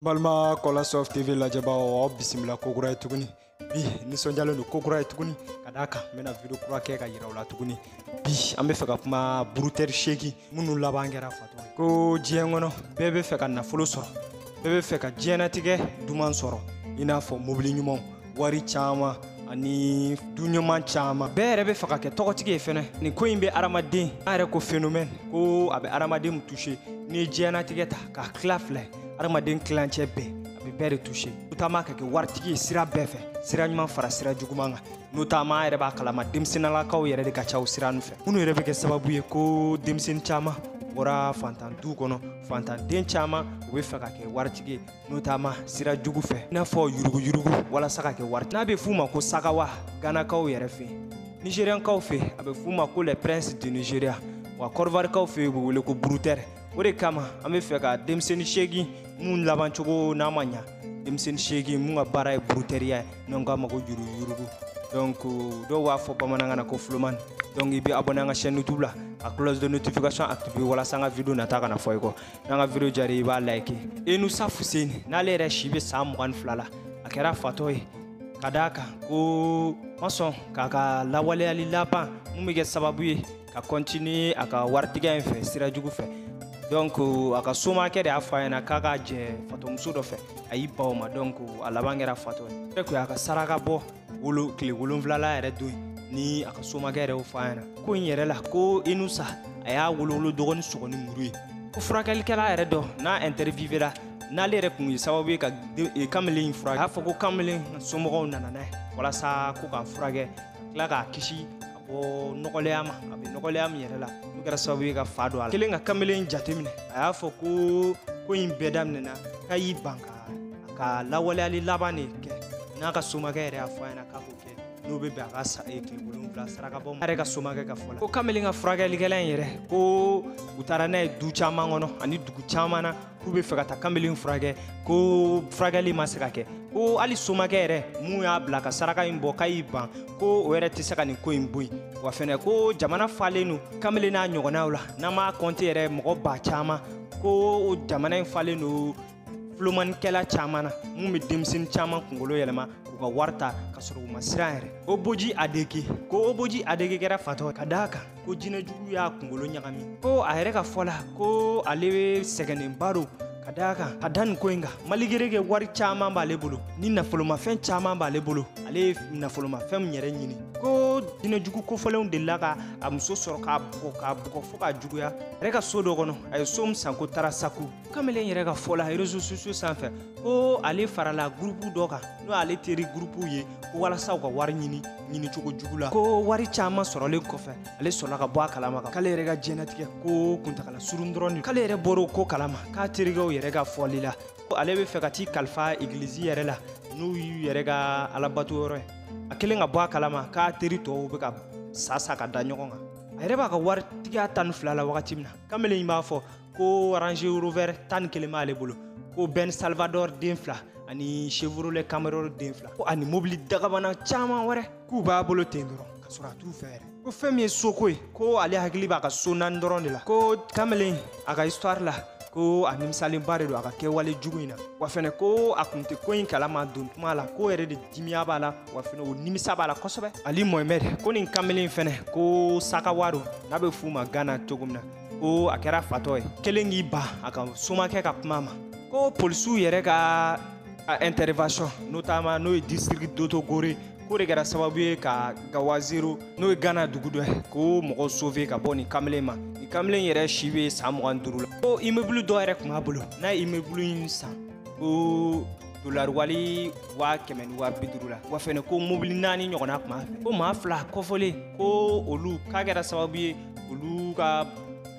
balima kola sof tv lajɛbaaw aw bisimila kokura ye tuguni bi nisɔndiyalen don kokura ye tuguni ka d'a kan n bɛna video kura kɛ k'a yira aw la tuguni bi an bɛ fɛ ka kuma burutɛri seegin minnu laban kɛra fatɔ ye ko diɲɛ kɔnɔ bɛɛ bɛ fɛ ka nafolo sɔrɔ bɛɛ bɛ fɛ ka diɲɛnatigɛ duman sɔrɔ i n'a fɔ mobili ɲumanw wari caman ani du ɲuman caman bɛɛ yɛrɛ bɛ fɛ ka kɛ tɔgɔtigi ye fɛnɛ nin ko in bɛ adamaden an yɛrɛ ko phénomène ko a bɛ adamaden touché n'i ye diɲɛnatigɛ ta k'a tila fila ye adamaden tilancɛ bɛɛ a bɛ bɛɛ de touché notamment ka kɛ waritigi ye sira bɛɛ fɛ sira ɲuman fara sira juguman kan notamment an yɛrɛ b'a kalama denmisɛnnalakaw yɛrɛ de ka ca o sira ninnu fɛ minnu yɛrɛ bɛ kɛ sababu ye ko denmisɛnnin caman bɔra fantan du kɔnɔ fantanden caman u bɛ fɛ ka kɛ waritigi ye notamment sira jugu fɛ i n'a fɔ yuruguyurugu walasa ka kɛ waritigi n'a bɛ f'u ma ko sakawa ganakaw yɛrɛ fɛ nigeriyankaw fɛ a bɛ f'u ma ko les princes du nigeria wa kɔdiwarikaw fɛ u bɛ wele ko burutɛri o de kama an be fɛ ka denmisɛni seegin mun laban cogo n'a ma ɲa denmisɛni seegin mun ka baara ye burutɛriya ye n'an k'a ma ko yuruguyurugu donc dɔw b'a fɔ bamanankan na ko flomani donc i be abonné an ka chaîne youtube la a cloche de notification activé walasa an ka video nata kana fɔ i kɔ n'an ka video diyara i b'a like enusa fuseni n'ale yɛrɛ si be san mugan fila la a kɛra fatɔ ye ka d'a kan k'a ma sɔn k'a ka lawaleyali laban mun be kɛ sababu ye ka continuer a ka waritigiya in fɛ sira jugu fɛ donc a ka somakɛ de y'a fɔ a ɲɛna k'a ka jɛ fatɔmuso dɔ fɛ a y'i ban o ma donc a laban kɛra fatɔ ye ko a ka saraka bɔ tile wolonwula yɛrɛ don ni a ka somakɛ yɛrɛ y'o fɔ a ɲɛna ko in yɛrɛ la ko inusa a y'a wolowolo dɔgɔni sɔgɔ ni muru ye ko furakɛlikɛla yɛrɛ dɔ n'a interviewera n'ale yɛrɛ kun ye sababu ye ka e, kamalen in furakɛ a y'a fɔ ko kamalen somɔgɔw nana n'a ye walasa ko k'a furakɛ ka tila k'a kisi bɔ nɔgɔlɛya ma a bɛ nɔgɔlɛya min yɛrɛ la n'o kɛra sababu ye ka fa don a la kelen ka kamalen jateminɛ a y'a fɔ ko ko in bɛɛ daminɛna k'a y'i ban k'a ka lawaleyali laban de kɛ n'a ka somakɛ yɛrɛ y'a fɔ a ɲɛna k'a k'o kɛ n'o bɛ bɛn a ka tile wolonwula sarakabɔ ma a yɛrɛ ka somakɛ ka fɔ la ko kamalen ka furakɛlikɛla in yɛrɛ ko u taara n'a ye du caman kɔnɔ ani dugu caman na k'u bɛ fɛ ka taa kanbelen furakɛ ko furakɛli ma se ka kɛ ko hali somakɛ yɛrɛ mun y'a bila ka saraka in bɔ k'a y'i ban ko o yɛrɛ tɛ se ka nin ko in bɔ yen wa fɛnɛ ko jamana falen don kanbelen n'a ɲɔgɔnnaw la n'an m'a kɔnte yɛrɛ mɔgɔ ba caman ko jamana in falen don fulomanikɛla caman na mun bɛ denmisɛnnin caman kunkolo yɛlɛma k'u ka wari ta ka sɔrɔ u ma siran yɛrɛ oboji adeke ko oboji adeke kɛra fatɔ ka d'a kan ko jinɛ jugu y'a kungolo ɲagami ko a yɛrɛ ka fɔ la ko ale be sɛgɛnnenba don ka d'a kan ka da nin ko in kan malgré que wari caaman b'ale bolo ni nafolomafɛn caaman b'ale bolo ale ye nafolomafɛnw yɛrɛ ɲini ko jinɛ jugu kofɔlenw delila ka a muso sɔrɔ k'a bugɔ k'a bugɔ fo k'a juguya a yɛrɛ ka so dɔ kɔnɔ a ye so mun san ko tarasako kamalen yɛrɛ ka fɔ la réseaux sociaux sanfɛ ko ale farala gurupu dɔ kan n'o ale teri gurupu ye ko walasa u ka wari ɲini ɲini cogo jugu la ko wari caaman sɔrɔlen kɔfɛ ale sɔrɔla ka bɔ a kalama kan k'ale yɛrɛ ka jɛnatigɛ ko kuntagala surun dɔrɔn k'ale yɛrɛ bɔr'o ko kalama k'a terikɛw yɛrɛ ka fɔli la ale be fɛ ka t'i kalifa egilizi yɛrɛ la n'u y'u yɛrɛ ka alabato yɔrɔ ye a kelen ka bɔ a kalama k'a teri tɔw be ka sa sa ka da ɲɔgɔn kan a yɛrɛ b'a ka waritigiya tan ni fila la wagati min na kamalen b'a fɔ ko range rover tan ni kelen b'ale bolo ko ben salvador den fila ani chevrolet camaro den fila ko ani mobili dagabana caman wɛrɛ k'u b'a bolo ten dɔrɔn ka sɔrɔ a t'u fɛ yɛrɛ ko fɛn min ye soko ye ko ale hakili b'a ka so naani dɔrɔn de la ko kamalen a ka histoire la ko a nimisalenba de don a ka kɛwale jugu in na wa fɛnɛ ko a kun tɛ ko in kalama don tuma la ko yɛrɛ de dimiya b'a la wa fɛnɛ o nimisa b'a la kosɛbɛ ali mohamɛd ko nin kamalen fɛnɛ ko sakawa don n'a bɛ f'u ma gana cogo min na ko a kɛra fatɔ ye kelen k'i ban a ka somakɛ ka kuma ma ko polisiw yɛrɛ ka intervention notamment n'o ye district doto gore k'o de kɛra sababu ye ka gawazero n'o ye gana dugu dɔ ye k'o mɔgɔw sauver ka bɔ nin kamalen ma nin kamalen yɛrɛ si bɛ san mugan duuru la ko immeuble dɔ yɛrɛ tun b'a bolo n'a ye immeuble in san ko dolari wari waa kɛmɛ ni waa bi duuru la wa fɛnɛ ko mobili naani ɲɔgɔnna tun b'a fɛ ko maa fila kɔfɔlen ko olu k'a kɛra sababu ye olu ka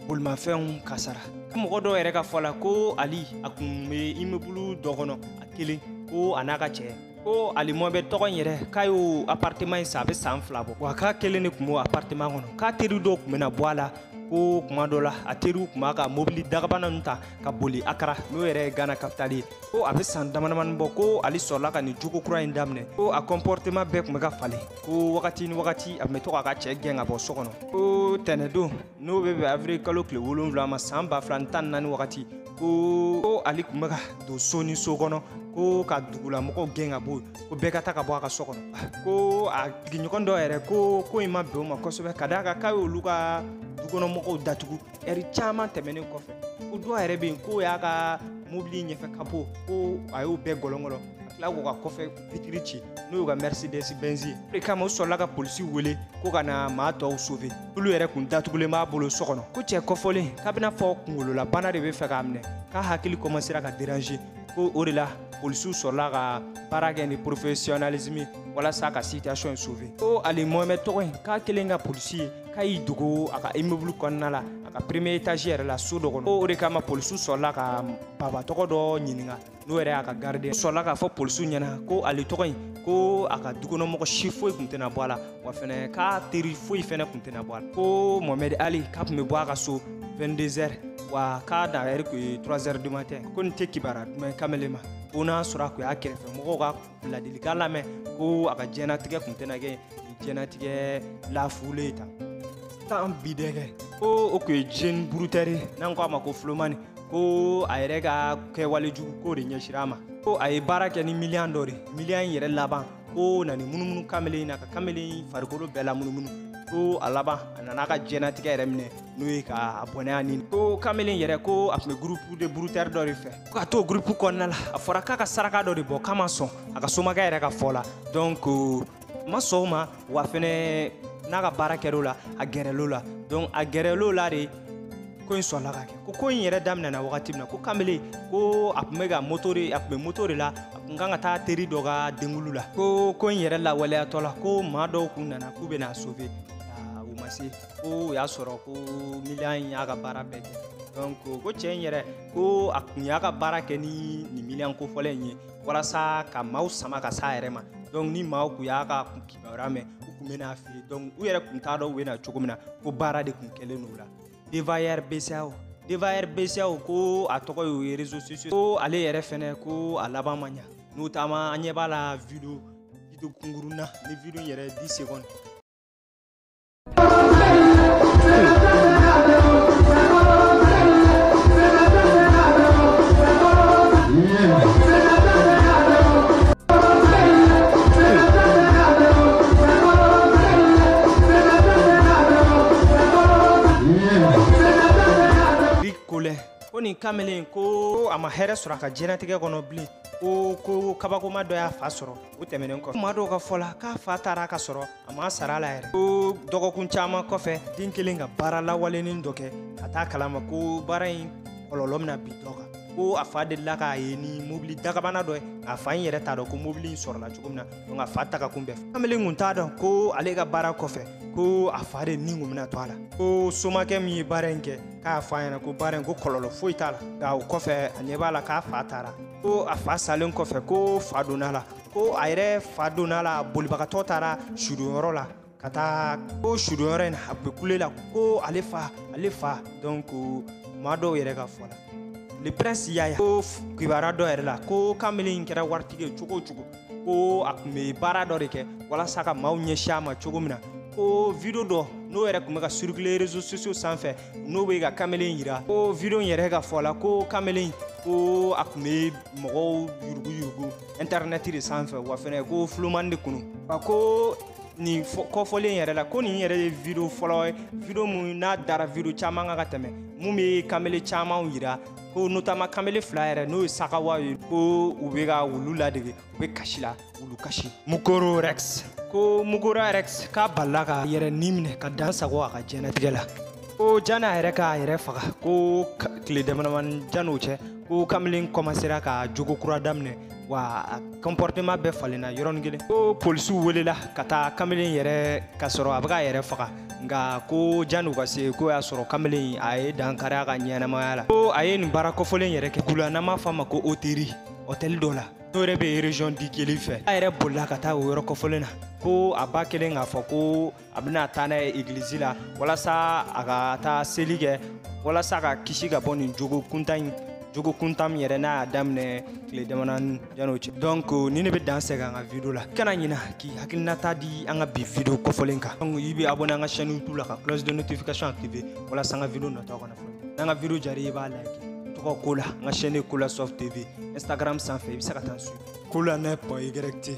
bolimafɛnw kasara mɔgɔ dɔw yɛrɛ ka fɔ la ko ali a kun bɛ imebulu dɔ kɔnɔ a kelen ko a n'a ka cɛ ko ali mohamɛd tɔgɔ in yɛrɛ k'a y'o apartema in san a bɛ san fila bɔ wa k'a kelen de kun b'o apartema kɔnɔ k'a teri dɔw kun bɛ na bɔ a la ko kuma dɔ la a teriw kun b'a ka mobili dagabana nu ta ka boli akara n'o yɛrɛ ye gana kapitali ye ko a bɛ san damadamani bɔ ko ali sɔrɔla ka nin jogo kura in daminɛ ko a kɔnpɔrtema bɛɛ kun bɛ ka falen ko wagati ni wagati a tun bɛ to k'a ka cɛ gɛn ka bɔ so kɔnɔ ko tɛnɛdon n'o bɛ bɛn avril kalo tile wolonwula ma san ba fila ni tan ni naani wagati ko ale kun bɛ ka don so ni so kɔnɔ ko ka dugulamɔgɔw gɛn ka bɔ ko bɛɛ ka taa ka bɔ a ka so kɔnɔ ko a sigiɲɔgɔn dɔ yɛrɛ ko ko in ma bɛn o ma kosɛbɛ ka d'a kan k'a y'olu ka dukɔnɔmɔgɔw datugu ɛri caman tɛmɛnen kɔfɛ ko dɔ yɛrɛ bɛ yen k'o y'a ka mobili ɲɛfɛ kapo ko a y'o bɛɛ gɔlɔngɔlɔ ka tila k'o ka kɔfɛ fitiri ci n'o y'u ka mɛrisidɛsi bɛnzi ye o de kama u sɔrɔla ka polisi wele ko ka na maa tɔw sofe n'olu yɛrɛ kun datugulen b'a bolo so kɔnɔ ko cɛ kɔfɔlen k'a b'i n'a fɔ kunkololabana de be fɛ k'a minɛ k'a hakili kɔmansera ka derange ko o de la polisiw sɔrɔla ka baara kɛ ni porofesiyɔnalisimi walasa ka sitiyasɔn in sofe ko ali mohamɛd tɔgɔ in k'a kelen ka polisi ye k'a y'i dogo a ka imebulu kɔnɔna la a ka premier etazi yɛrɛ la so dɔ kɔnɔ ko o de kama polisiw sɔrɔla ka baba tɔgɔ dɔ ɲininga n'o yɛrɛ y'a ka gardien sɔrɔla k'a fɔ polisiw ɲɛna ko ale tɔgɔ in ko a ka dukɔnɔmɔgɔ si foyi kun tɛna bɔ a la wa fɛnɛ k'a teri foyi fɛnɛ kun tɛna bɔ a la ko mohamed ali k'a kun bɛ bɔ a ka so 22 heures wa k'a na heure kun ye 3 heures du matin ko nin tɛ kibara duman ye kamalen ma ko n'a sɔrɔ a kun y'a kɛrɛfɛ mɔgɔw ka ladilikan lamɛn ko a ka jɛnatigɛ kun tɛna kɛ nin jɛnatigɛ lafulen ta tan bi dɛgɛ ko o kun ye jeune brouteur n'an ko a ma ko filomani ko a yɛrɛ ka kɛwale jugu ko de ɲɛsira a ma ko a ye baara kɛ ni miliyan dɔ de miliyan in yɛrɛ laban ko na ni munumunu kamelen na ka kamelen farikolo bɛɛ la munumunu ko a laban a nana a ka jɛnatigɛ yɛrɛ minɛ n'o ye k'a bɔnɛ a ni ko kamelen yɛrɛ ko a tun bɛ groupe de brouteurs dɔ de fɛ ko ka t'o groupe kɔnɔna la a fɔra k'a ka saraka dɔ de bɔ k'a ma sɔn a ka somakɛ yɛrɛ ka fɔ la donc a ma sɔn o ma wa fɛnɛ n'a ka baara kɛr'o la a gɛrɛl'o la donc a gɛrɛl'o la de ko in sɔrɔla ka kɛ ko ko in yɛrɛ daminɛna wagati min na ko kamele ko a tun bɛ ka moto de a tun bɛ moto de la a tun kan ka taa teri dɔ ka denkunli la ko ko in yɛrɛ lawaleyatɔ la ko maa dɔw kun nana k'u bɛna a sauver u ma se ko o y'a sɔrɔ ko miliyan in y'a ka baara bɛɛ kɛ donc ko cɛ in yɛrɛ ko a kun y'a ka baara kɛ ni nin miliyan kofɔlen in ye walasa ka maaw sama ka s'a yɛrɛ ma donc ni maaw kun y'a ka kibaruya mɛn u kun bɛ na a fɛ yen donc u yɛrɛ kun t'a dɔn u bɛ na cogo min na ko baara de kun kɛlen don o la devayer bceao devayer bceao ko a tɔgɔ y'o ye réseaux sociaux ko ale yɛrɛ fɛnɛ ko a laban ma ɲa n'o taama an ɲɛ b'a la video video kunkurun na ni video yɛrɛ 10 secondes kamalen ko a ma hɛrɛ sɔrɔ a ka jɛnatigɛ kɔnɔ bilen ko ko kabakoma dɔ y'a fa sɔrɔ o tɛmɛnen kɔfɛ maa dɔw ka fɔ la k'a fa taara ka sɔrɔ a ma sar'a la yɛrɛ ko dɔgɔkun caman kɔfɛ den kelen ka baara lawalenin dɔ kɛ ka t'a kalama ko baara in kɔlɔlɔ bɛna bin dɔ kan ko a fa delila k'a ye ni mobili dagabana dɔ ye a fa in yɛrɛ t'a dɔn ko mobili in sɔrɔla cogo min na donc a fa taga kun bɛɛ fɛ kamalen kun t'a dɔn ko ale ka baara kɔfɛ ko a fa de ni kun bɛna to a la ko somakɛ min ye baara in kɛ k'a f'a ɲɛna ko baara in ko kɔlɔlɔ foyi t'a la nka o kɔfɛ a ɲɛ b'a la k'a fa taara ko a fa salen kɔfɛ ko fa donn'a la ko a yɛrɛ fa donn'a la bolibagatɔ taara sudonyɔrɔ la ka taa ko sudonyɔrɔ in a bɛ kule la ko ale fa ale fa donc maa dɔw yɛrɛ ka fɔ la le prince yaya ko kibaruya dɔ yɛrɛ la ko kamalen in kɛra waritigi ye cogo o cogo ko a tun bɛ baara dɔ de kɛ walasa ka maaw ɲɛsin a ma cogo min na ko video dɔ n'o yɛrɛ tun bɛ ka circuler réseaux sociaux sanfɛ n'o bɛ ka kamelen yira ko video in yɛrɛ ka fɔ la ko kamelen ko a tun bɛ mɔgɔw yuruguyurugu intɛrɛnɛti de sanfɛ wa fɛnɛ ko fulomani de kunu wa ko nin kɔfɔlen yɛrɛ la ko nin yɛrɛ ye video fɔlɔ ye video mun n'a dara video caman kan ka tɛmɛ mun bɛ kamele camanw yira ko notamment kamele fila yɛrɛ n'o ye sakawa ye ko u bɛ ka wulu ladege u bɛ kasi la wulu kasi mukoro rex ko mukoro rex k'a balila k'a yɛrɛ ni minɛ ka dan sago a ka diɲɛnatigɛ la ko jan'a yɛrɛ k'a yɛrɛ faga ko tile damadamani jan'o cɛ ko kamalen kɔmansera ka jogo kura daminɛ wa a comportement bɛɛ falenna yɔrɔnin kelen ko polisiw welela ka taa kamalen yɛrɛ ka sɔrɔ a bɛ k'a yɛrɛ faga nka ko janni u ka se k'o y'a sɔrɔ kamalen a ye dankari a ka ɲɛnamaya la ko a ye nin baara kɔfɔlen yɛrɛ kɛ kula n'an b'a fɔ a ma ko oteri hɔtɛli dɔ la n'o yɛrɛ bɛ region di kelen fɛ a yɛrɛ bolila ka taa o yɔrɔ kɔfɔlen na ko a ba kɛlen k'a fɔ ko a bɛna taa n'a ye egilizi la walasa a ka taa seli kɛ walasa ka kisi ka bɔ nin jogo kuntan in jogo kuntan min yɛrɛ n'a y'a daminɛ tile damanani yan'o cɛ donc nin de bɛ dan sɛgɛ an ka video la kana ɲina k'i hakilinata di an ka bi video kofɔlen kan donc i bɛ abonné an ka chaîne youtube la ka cloche de notification activer walasa an ka video nataw kana fɔ i kɔ n'an ka video diyara i b'a like tɔgɔ kola an ka chaîne ye kola soft tv instagram sanfɛ i bɛ se ka taa n suivre kola neuf point y t